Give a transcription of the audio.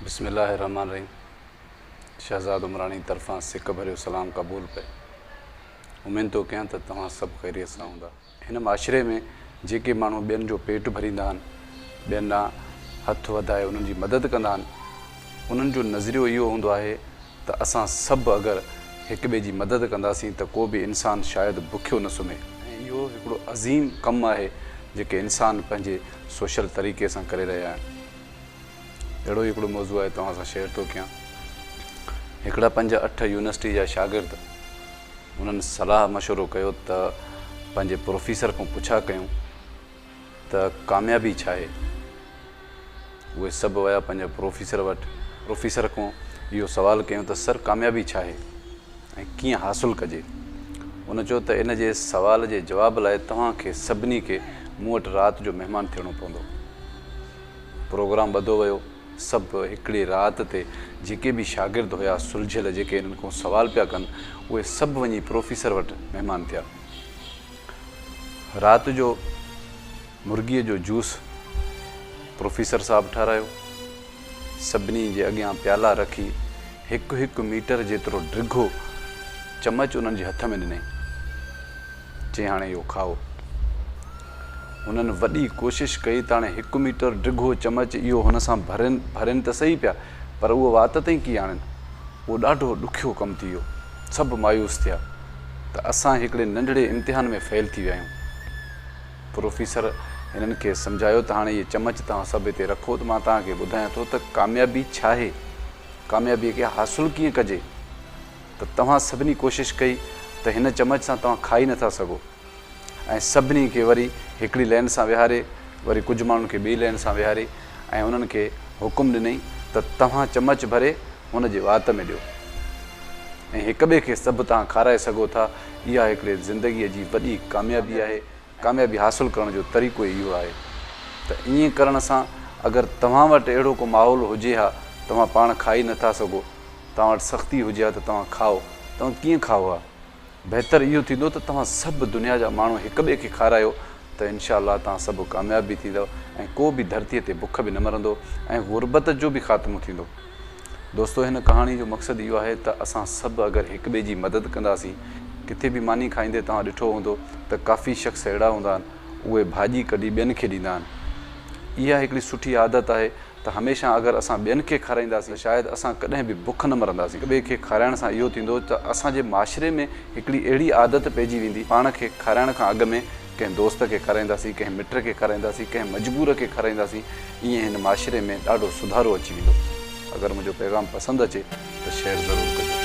بسم الله الرحمٰن الرحيم شهزاد عمراڻي طرفان سڪ ڀريو سلام قبول پئي امين ٿو ڪيان ته توهان سڀ خيريت سان هوندا هن معاشري ۾ جيڪي ماڻهو ٻين جو پيٽ ڀريندا آهن ٻين ڏانهن هٿ وڌائي انهن جي مدد ڪندا آهن انهن جو نظريو اهو هوندو آهي ته اسان سڀ اگر هڪ ٻئي جي مدد ڪنداسين ته ڪو به انسان شايد بکيو نه سمهي ۽ اهو هڪڙو عظيم ڪم آهي جيڪي انسان پنهنجي سوشل طريقي سان ڪري رهيا آهن. اهڙو ئي هڪڙو موضوع آء توهان سان شيئر ٿو ڪيان. هڪڙا پنج اٺ يونيورسٽي جا شاگرد انهن صلاح مشورو ڪيو ته پنهنجي پروفيسر کان پڇا ڪيون ته ڪاميابي ڇا آهي؟ اهي سڀ ويا پنهنجي پروفيسر وٽ. پروفيسر کان اهو سوال ڪيون ته سر ڪاميابي ڇا آهي ۽ ڪيئن حاصل ڪجي؟ ان چيو ته ان جي سوال جي جواب لاء توهان کي سڀني کي مون وٽ رات جو مهمان ٿيڻو پوندو. پروگرام ٻڌو ويو. سڀ هڪڙي رات تي جيڪي به شاگرد هيا سلجهيل جيڪي هنن کون سوال پيا ڪن اهي سڀ وڃي پروفيسر وٽ مهمان ٿيا. رات جو مرغيء جو جوس پروفيسر صاحب ٺارايو. سڀني جي اڳيان پيالا رکي هڪ هڪ ميٽر جيترو ڊگهو چمچ انهن جي هٿ ۾ ڏنائين. چيائين هاڻي اهو کائو. هنن وڏي ڪوشش ڪئي ته هاڻي هڪ ميٽر ڊگهو چمچ اهو هن سان ڀرين ڀرين ته سهي پيا پر اهو وات تائين ڪي آڻين. اهو ڏاڍو ڏکيو ڪم ٿي ويو. سڀ مايوس ٿيا ته اسان هڪڙي ننڍڙي امتحان ۾ فيل ٿي ويا آهيون. پروفيسر هنن کي سمجهايو ته هاڻي اهي چمچ توهان سڀ هتي رکو ته مان توهان کي ٻڌايان ٿو ته ڪاميابي ڇا آهي. ڪاميابيء کي حاصل ڪيئن ڪجي ته توهان سڀني ڪوشش ڪئي ته هن چمچ سان توهان کائي نٿا سگهو ۽ سڀني کي وري هڪڙي لين سان ويهاري وري ڪجهه ماڻهن کي ٻئي لين سان ويهاري ۽ انهن کي حڪم ڏنئي ته توهان چمچ ڀري هن جي وات ۾ ڏيو ۽ هڪٻئي کي سڀ تهان کارائي سگهو ٿا اها هڪڙي زندگيء جي وڏي ڪاميابي آهي. ڪاميابي حاصل ڪرڻ جو طريقو ئي اهو آهي ته ائين ڪرڻ سان اگر توهان وٽ اهڙو ڪو ماحول هجي ها توهان پاڻ کائي نه ٿا سگهو توهان وٽ سختي هجي ها ته توهان کائو توهان ڪيئن کائو ها بهتر اهو ٿيندو ته توهان سڀ دنيا جا ماڻهو هڪ ٻئي کي کارايو ته انشاء الله توهان سڀ ڪامياب به ٿيندؤ ۽ ڪو به ڌرتي تي بک به نه مرندو ۽ غربت جو به خاتمو ٿيندو. دوستو هن ڪهاڻي جو مقصد اهو آهي ته اسان سڀ اگر هڪ ٻئي جي مدد ڪنداسين ڪٿي به ماني کائيندي توهان ڏٺو هوندو ته ڪافي شخص اهڙا هوندا آهن اهي ڀاڄي ڪڍي ٻين کي ڏيندا آهن اها هڪڙي سٺي عادت آهي ته هميشه اگر اسان ٻين کي کارائينداسين ته شايد اسان ڪڏهن به بک نه مرنداسين هڪ ٻئي کي کارائڻ سان اهو ٿيندو ته اسان جي معاشري ۾ هڪڙي اهڙي عادت پئجي ويندي پاڻ کي کارائڻ کان اڳ ۾ ڪنهن دوست کي کارائينداسين، ڪنهن مٽ کي کارائينداسين، ڪنهن مجبور کي کارائينداسين، ائين هن معاشري ۾ ڏاڍو سڌارو اچي ويندو. اگر منهنجو پيغام پسند اچي ته شيئر ضرور ڪجو.